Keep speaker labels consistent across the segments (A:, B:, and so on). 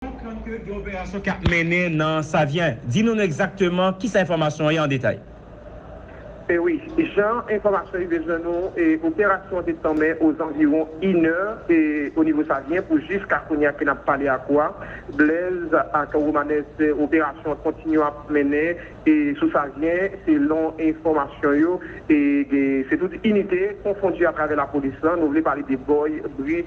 A: Konprann ke gen operasyon k ap mennen nan Savyen. Di nou nou egzakteman kisa enfòmasyon an ye an detay.
B: E wi, jan enfòmasyon rive jwenn nou, operasyon an te tanmen ozanviwon inè onivo Savyen pou jiska kounye a ke n ap pale ak ou a, Blèz ak Romanès, operasyon an kontinye ap mennen sou Savyen, selon enfòmasyon yo, se tout inite konfondi atravè lapolis lan, nou vle pale de Bòy, Bri,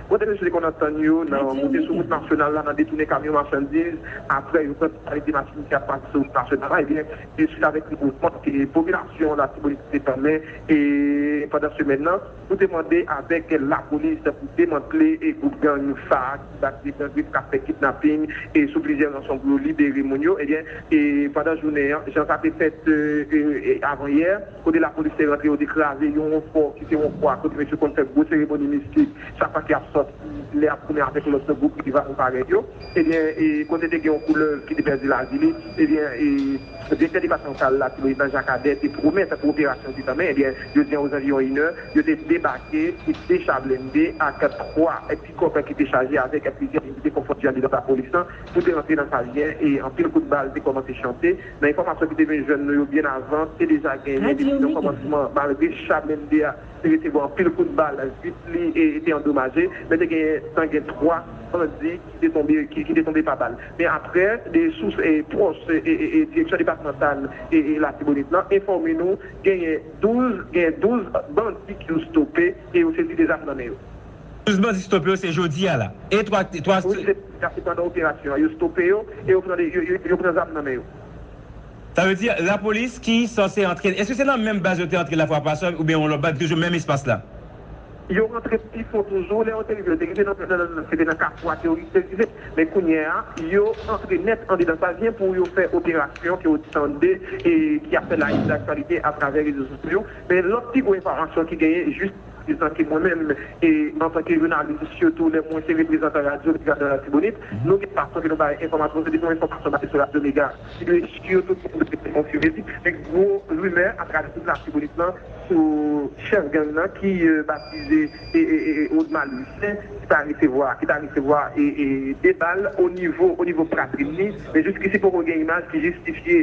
B: Bandi mesye te konn antann yo nan monte sou wout nasyonal la, nan detounen kamyon machandiz, aprè yo pran totalite machin ki ap pase sou wout nasyonal la, ebyen se swit avèk nouvo vant ke popilasyon Latibonit te tanmen pandan semèn nan pou te mande avèk lapolis pou demantle gwoup gang sa ki bat de gang kap fè kidnaping sou plizyè ranson pou yo libere moun yo ebyen pandan jounen an jan sa te fèt avan yè. Kote lapolis te rantre yo te kraze yon fò ki se yon fwa kote mesye konn fè gwo seremoni mistik chak fwa ki ap sòti lè ap tounen avèk lòt gwoup rival parèy yo ebyen e kote te gen yon koulèv ki te pèdi lavi li ebyen e direktè depatmantal latibonit nan jakadè te pwomèt pou operasyon te tanmen ebyen jodi an ozanviwon inè yo te debake pou 2 cha blende ak 3 pikòp ki te chaje avèk plizyè inite konfondu andedan lapolis lan pou te rantre nan sa li ye e anpil kout bal te kòmanse chante. Nan enfòmasyon ki te vin jwenn nou yo byen avan, te deja genyen depi nan kòmansman malgre cha blende a te resevwa anpil kout bal, vit li te andomaje, men te gen tan gen 3 bandi ki te tonbe ki te tonbe pa bal. Men aprè 2 sous pwòch direksyon depatmantal Latibonit lan enfòme nou genyen 12 genyen 12 bandi ki yo stope e yo sezi 2 zam nan men yo. Plis bandi stope
A: yo se jodi a la. E 3 ak 3 Wi se sa se
B: pandan operasyon an yo stope yo e yo pran yo pran zam nan men yo. Sa
A: vle di lapolis ki sanse antre eske se nan menm baz yo te antre la fwa pase oubyen yon lòt baz toujou menm espas la? Yo
B: rantre pi fon toujou, lè yo te rive yo te rive nan nan se te nan kafou a teworis te rive men kounyea yo antre nèt andedan sa vyen pou yo fè operasyon ke ou tande e ki ap fè la une de l'actualité atravè rezo sosyo yo men lòt pi gwo enfòmasyon ki genyen jis Etanke mwen menm, e antanke jounalis, sitou lè mwen se reprezantan radyo Mega nan Latibonit, nou gen fason ke nou bay enfòmasyon, se depi yon enfòmasyon pase sou radyo Mega, ki dwe sure, tout moun dwe te konfime li, men gwo rimè atravè tout Latibonit lan sou chèf gang nan ki batize Odmal Lucien, ki ta resevwa, ki ta resevwa 2 bal o nivo, o nivo pwatrin li, men jiskisi poko gen imaj ki jistifye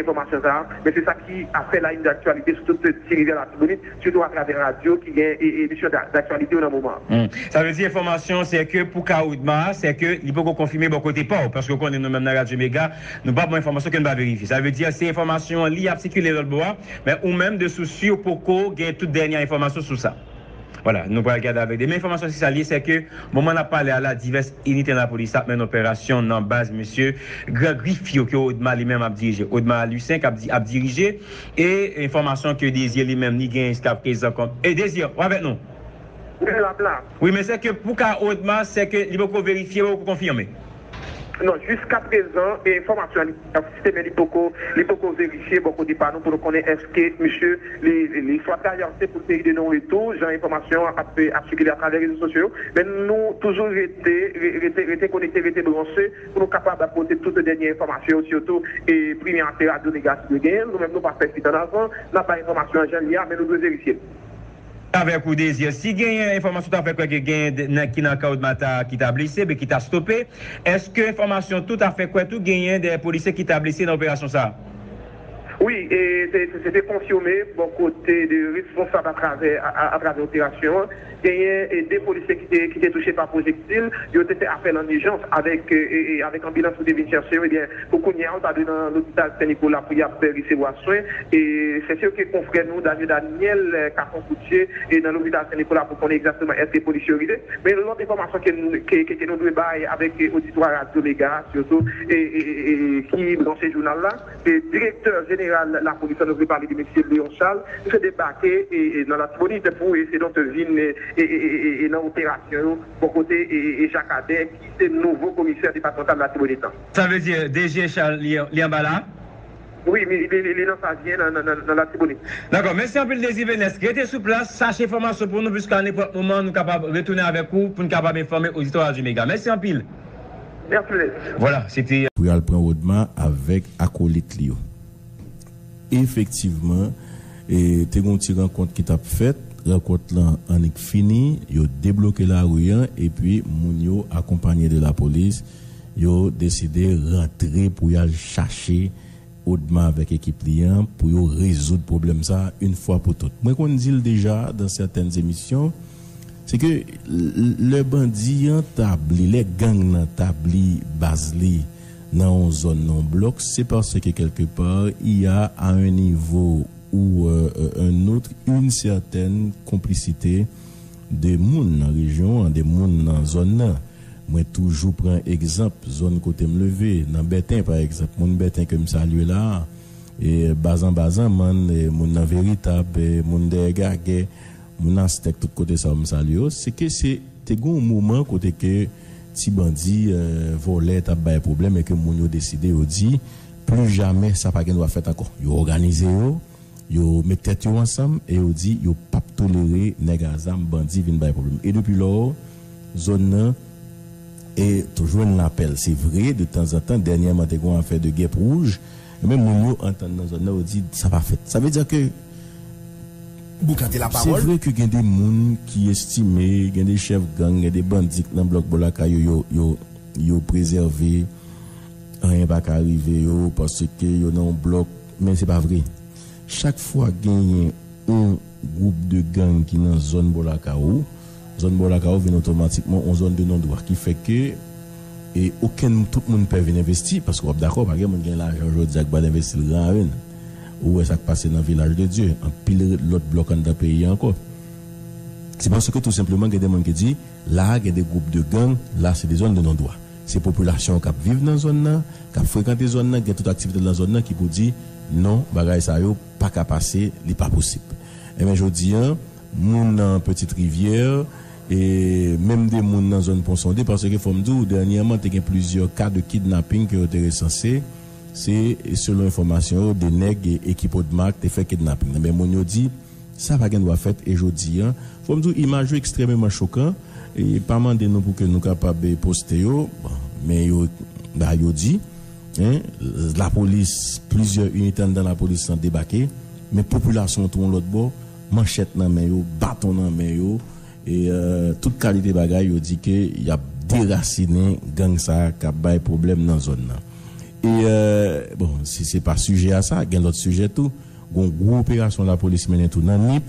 B: enfòmasyon sa a, men se sa ki ap fè la une d'actualité sou tout Ti Rivyè Latibonit. sitou atravè radyo ki gen emisyon daktyalite yo nan moman an. Sa vle di enfòmasyon
A: an sè ke pou ka Odma a sè ke li poko konfime bò kote pa w paske w konnen nou menm nan Radyo Mega nou pa pran enfòmasyon ke n pa verifye sa vle di se enfòmasyon an li ap sikile lòt bò a men ou menm de sous si w poko gen tout dènyè enfòmasyon sou sa wala nou pral gade avèk de men enfòmasyon si sa l ye sè ke moman n ap pale a la divès inite nan lapolis ap mennen operasyon nan baz mesye gran grif yo ke Odma li menm ap dirije Odma Lucien k ap dirije E enfòmasyon ke Desir li menm li genyen jiska prezan kòm e Desir ou avèk nou? Wi lap la. Wi men sè ke pou ka Odma sè ke li poko verifye ou poko konfime? Non
B: jiska prezan e enfòmasyon li asiste men li poko li poko verifye bò kote pa nou pou nou konnen eske misye li li swa traverse pou peyi de non retou jan enfòmasyon an ap ap sikile atravè rezo sosyo yo men nou toujou rete rete rete konekte rete branche pou nou kapab pote tout dènye enfòmasyon yo sitou pri men ase radyo Negras dwe genyen l nou menm nou pa fè fwit an avan n ap bay enfòmasyon an jan l ye a men nou dwe verifye l avèk
A: ou Désir si genyen enfòmasyon ou ta fè kwè ke genyen nèg ki nan kan Odmata ki ta blese oubyen ki ta stope èske enfòmasyon tou ta fè kwè tou genyen dèyè polisye ki ta blese nan operasyon sa a? Wi,
B: e se te konfime bò kote 2 responsab atravè atravè operasyon an. Genyen 2 polisye ki te ki te touche pa pwojektil. Yo te fè apèl an ijans avèk avèk anbilans pou te vin chèche yo. Ebyen, pou kounye a yo ta dwe nan lopital Sen Nikola pou y ap resevwa swen. E se sè ke konfrè nou Danio Daniel ka fon kout je e nan lopital Sen Nikola pou konnen egzakteman èske polisye yo rive. Men lòt enfòmasyon ke n ke ke nou dwe bay avèk oditwa Radyo Mega a sitou e e e ki branche jounal la. Direktè jeneral lapolis la nou vle pale de mesye Léon Charles, misye debake nan Latibonit pou e donk vin e nan operasyon yo bò kote e Jacques Ader ki se nouvo komisè
A: depatmantal Latibonit
B: lan. Sa vle
A: di
B: DG
A: Charles
B: li
A: anba la
B: a? Wi, li nan Savyen nan Latibonit. Dakò, mèsi anpil
A: Désir Venès. Rete sou plas, chache enfòmasyon pou nou puiske a nenpòt moman nou kapab retounen avèk ou pou n kapab enfòme oditò Radyo Mega. Mèsi anpil.
B: Merci.
A: Pou y al pran Rodma
C: avèk akolit li yo. Efektivman, te gen yon ti rankont ki t ap fèt. Rankont lan annik fini, yo debloke lari an epi moun yo akonpanye de lapolis, yo deside rantre pou y al chache. Odma avèk ekip li an pou yo rezoud pwoblèm sa a yn fwa pou tout. Mwen konn di l deja dan sètèn emisyon, se ke lè bandi an tabli, lè gang nan tabli baz li nan yon zòn, nan yon blòk, se paske kèlke pa, i a a yn nivo ou yn otre yn sètèn konplisite de moun nan rejyon an, de moun nan zòn nan. Mwen toujou pran egzanp zòn kote m leve, nan Bèten pa egzanp. Moun Bèten ke m salye la a, Bazan ba Zanmann, moun nan Veritab, moun dèyè Gagè, moun Astèk, tout kote sa yo m salye yo, se ke se te gen yon moman kote ke ti bandi, vòlè t ap bay pwoblèm e ke moun yo deside yo di pli jamè sa pa gen dwa fèt ankò. Yo òganize yo, yo met tèt yo ansanm e yo di yo p ap tolere nèg a zam, bandi vin bay pwoblèm. E depi lò, zòn nan e to jwenn lapè l se vre de tanzantan dènyèman te gon afè de gèp wouj men moun yo antann nan zòn nan yo di sa pa fèt sa vle di ke
D: Boukante la se vre ke gen de moun
C: ki estime gen de chèf gang gen de bandi k nan blòk bò lakay yo yo yo yo prezève anyen pa ka rive yo paske yo nan yon blòk men se pa vre chak fwa genyen yon. gwoup de gang ki nan zòn Bò Lakawo. Zòn Bò Lakawo vin otomatikman yon zòn de non dwa ki fè ke e okenn tout moun pè vin envesti paske w ap dakò pa gen moun ki gen lajan jodi a ki pa al envesti l gran ren. Ou wè sa k pase nan Vilaj de Dye, anpil lòt blòk anndan peyi a ankò. Se paske tou senpleman gen de moun ki di la a gen de gwoup de gang, la se de zòn de non dwa. Se popilasyon k ap viv nan zòn nan, k ap frekante zòn nan, ki gen tout aktivite l nan zòn nan ki pou di non bagay sa yo. pa ka pase li pa posib enben jodi an moun nan petit rivière e menm de moun nan zòn pon sonde paske fòm di w dènyèman te gen plizyè ka de kidnapping ke yo te resanse se selon enfòmasyon yo de nèg ekip odmark te fè kidnapping nan men moun yo di sa pa gen dwa fèt e jodi an fòm di w imaj yo ekstrèmeman chokan e pa mande nou pou ke nou kapab poste yo bon men yo ba yo di. Hein lapolis plizyè inite anndan lapolis lan debake men popilasyon an tou yon lòt bò manchèt nan men yo baton nan men yo e tout kalite bagay yo di ke yap derasinen gang sa kap bay pwoblèm nan zòn nan e bon si se pa sijè a sa gen lòt sijè tou gon gwo operasyon lapolis mennen tou nan nip.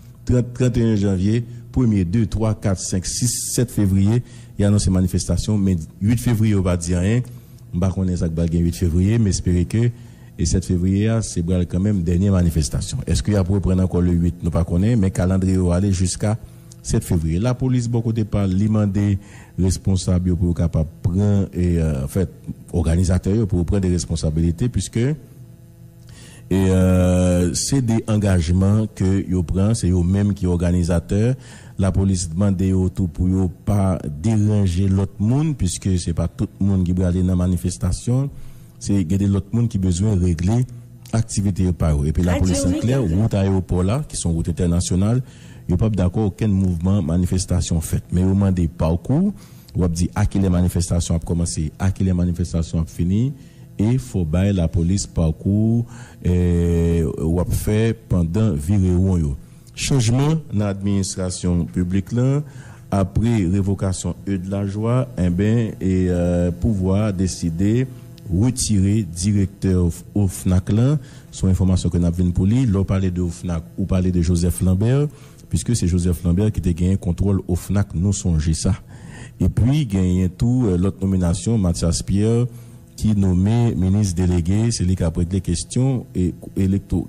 C: 30, 31 janvye, premye, de, twa, kat, senk, sis, sèt fevriye, y anonse manifestasyon, men 8 fevriye yo pa di anyen, m pa konnen sa k pral gen 8 fevriye, m espere ke 7 fevriye a se pral kanmenm dènye manifestasyon. Eske y ap reprann ankò le 8, nou pa konnen, men kalandriye yo ale jiska 7 fevriye. Lapolis bò kote pa l, li mande responsab yo pou yo kapab pran, anfèt, òganizatè yo pou yo pran de responsabilite, puiske. Se 2 angajman ke yo pran, se yo menm ki òganizatè. Lapolis mande yo tou pou yo pa deranje lòt moun puiske se pa tout moun ki prale nan manifestasyon. Se gen 2 lòt moun ki bezwen regle aktivite yo pa yo. Epi lapolis la klè, wout ayewopò la ki son wout entènasyonal, yo pap dakò okenn mouvman manifestasyon fèt. Men yo mande pakou, wap di a kilè manifestasyon ap kòmanse, a kilè manifestasyon ap fini. E fò bay lapolis parkou wap fè pandan virewon yo. Chanjman nan administrasyon piblik lan apre revokasyon Eude Lajoie enben pouvwa a deside retire direktè OFNAC lan son enfòmasyon ke nap vin pou li lè w pale de OFNAC ou pale de Joseph Lambert. Piske se Joseph Lambert ki te genyen kontwòl OFNAC nou sonje sa. Epi genyen tou lòt nominasyon Mathias Pierre ki nome minis delege se li kap regle kesyon elektwo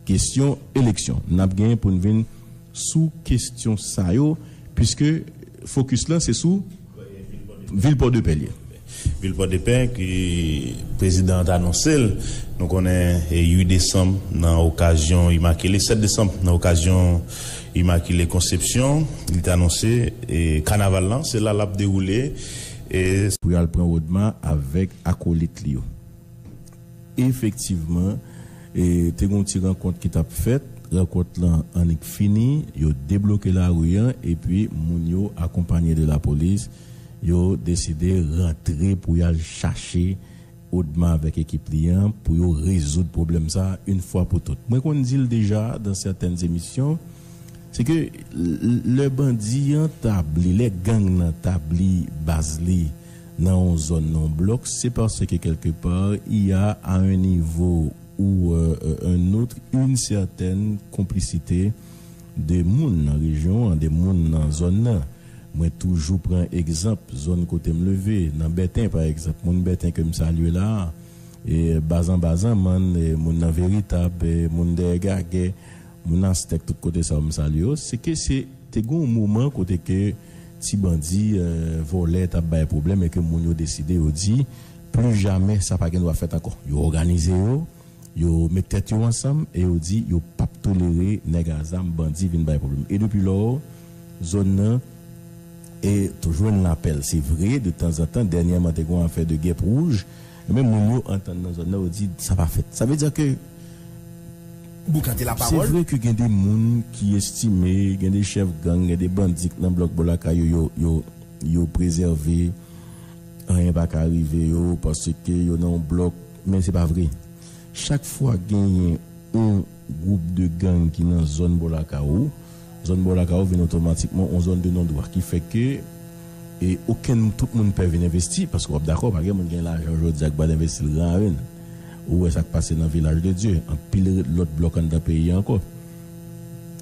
C: kesyon eleksyon. Nap genyen poun vin sou kesyon sa yo piske fokis lan se sou. Vil Pòdepè l ye. Vil
E: Pòdepè ke prezidan an t anonse l, nou konnen 8 desanm nan okazyon imakile, 7 desanm nan okazyon imakile konsepsyon, li te anonse kanaval lan se la l ap dewoule. Pou y al pran Odma
C: avèk akolit li yo. Efektivman, te gen yon ti rankont ki t ap fèt. Rankont lan annik fini, yo debloke lari an epi moun yo, akonpanye de lapolis, yo deside rantre pou y al chache Odma avèk ekip li an pou yo rezoud pwoblèm sa a yon fwa pou tout. Mwen konn di l deja dan sètèn emisyon, se ke lè bandi an tabli, lè gang nan tabli baz li, nan yon zòn nan yon blòk se paske kèlke pa y a a un niveau ou un autre une certaine complicité de moun nan rejyon an de moun nan zòn nan mwen toujou pran egzanp zòn kote m leve nan bèten pa egzanp moun bèten ke m salye la a bazan bazanmann moun nan veritab moun dèyè gagè Moun Astèk tout kote sa yo m salye yo, se ke se te gen yon moman kote ke ti bandi, vòlè t ap bay pwoblèm e ke moun yo deside yo di pli jamè sa pa gen dwa fèt ankò. Yo òganize yo, yo met tèt yo ansanm e yo di yo p ap tolere nèg a zam, bandi vin bay pwoblèm. E depi lò, zòn nan e jwenn lapè l. Se vre, de tanzantan, dènyèman te gen yon afè de gèp wouj, Ebyen moun yo antann nan zòn nan yo di sa pa fèt. Sa vle di ke
D: nou gade la pawòl. Se vre ke gen de moun
C: ki estime gen de chèf gang, gen de bandi k nan blòk bò lakay yo yo yo prezève anyen pa ka rive yo paske yo nan yon blòk men se pa vre. Chak fwa genyen yon. gwoup de gang ki nan zòn bò lakay ou, zòn bò lakay ou vin otomatikman yon zòn de non dwa ki fè ke e okenn tout moun pè vin envesti paske wap dakò pa gen moun gen lajan jodi a ki pral envesti l gran ren ou wè sak pase nan vilaj de dye anpil lòt blòk anndan peyi a ankò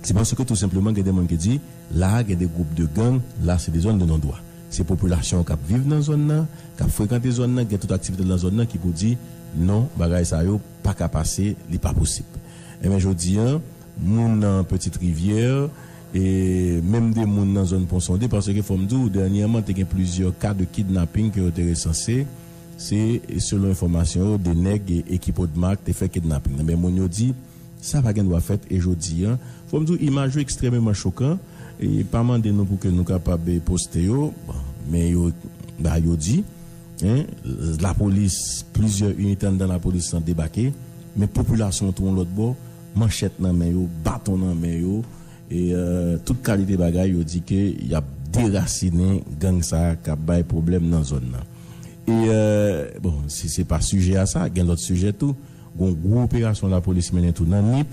C: se paske tou senpleman gen de moun ki di la a gen de gwoup de gang la se de zòn de non dwa se popilasyon kap viv nan zòn nan kap frekante zòn nan gen tout aktivite l nan zòn nan ki pou di non bagay sa yo Paka pase, li pa posib. Enben jodi an, moun nan Petite Rivière, e menm 2 moun nan zòn Ponsonde, paske fò m di w, dènyèman te gen plizyè ka de kidnapping ke yo te resanse, se selon enfòmasyon yo, 2 nèg ekip Odmark te fè kidnapping nan. Men moun yo di, sa pa gen dwa fèt, e jodi an, fò m di w imaj yo ekstrèmeman chokan, e pa mande nou pou ke nou kapab poste yo, bon, men yo, ba yo di. Hein lapolis plizyè inite anndan lapolis lan debake men popilasyon an tou yon lòt bò manchèt nan men yo baton nan men yo e tout kalite bagay yo di ke yap derasinen gang sa kap bay pwoblèm nan zòn nan e bon se pa sijè a sa gen lòt sijè tou gon gwo operasyon lapolis mennen tou nan nip.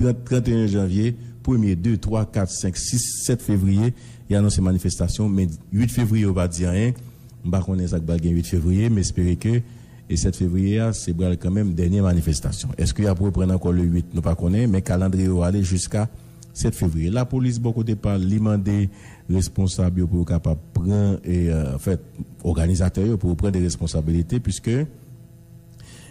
C: 30, 31 janvye, premye, de, twa, kat, senk, sis, sèt fevriye, y anonse manifestasyon, men 8 fevriye yo pa di anyen, m pa konnen sa k pral gen 8 fevriye, m espere ke 7 fevriye a se pral kanmenm dènye manifestasyon. Eske y ap reprann ankò le 8, nou pa konnen, men kalandriye yo ale jiska 7 fevriye. Lapolis bò kote pa l, li mande responsab yo pou yo kapab pran, anfèt, òganizatè yo pou yo pran de responsabilite, puiske.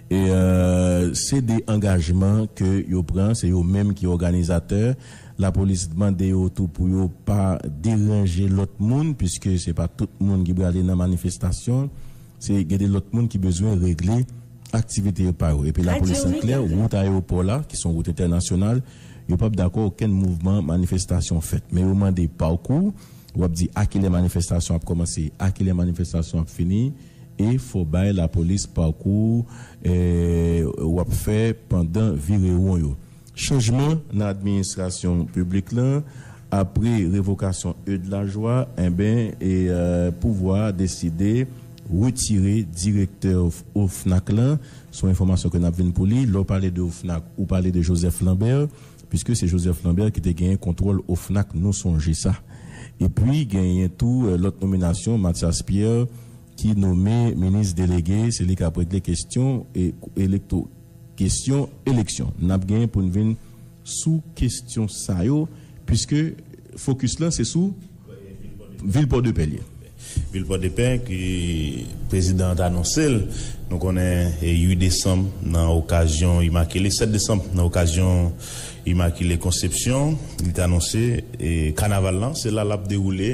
C: Se 2 angajman ke yo pran, se yo menm ki òganizatè. Lapolis mande yo tou pou yo pa deranje lòt moun puiske se pa tout moun ki prale nan manifestasyon. Se gen 2 lòt moun ki bezwen regle aktivite yo pa yo. Epi lapolis an klè, wout ayewopò la ki son wout entènasyonal, yo pap dakò okenn mouvman manifestasyon fèt. Men yo mande pakou, wap di a kilè manifestasyon ap kòmanse, a kilè manifestasyon ap fini. E fò bay lapolis parkou wap fè pandan virewon yo. Chanjman nan administrasyon piblik lan apre revokasyon Eude Lajoie enben pouvwa a deside retire direktè OFNAC lan son enfòmasyon ke nap vin pou li lè w pale de OFNAC ou pale de Joseph Lambert. Piske se Joseph Lambert ki te genyen kontwòl OFNAC nou sonje sa. Epi genyen tou lòt nominasyon Mathias Pierre ki nome minis delege se li kap regle kesyon elektwo kesyon eleksyon. Nap genyen poun vin sou kesyon sa yo piske fokis lan se sou. Vil Pòdepè l ye. Vil
E: Pòdepè ke prezidan an t anonse l, nou konnen 8 desanm nan okazyon imakile, 7 desanm nan okazyon imakile konsepsyon, li t anonse kanaval lan se la l ap dewoule.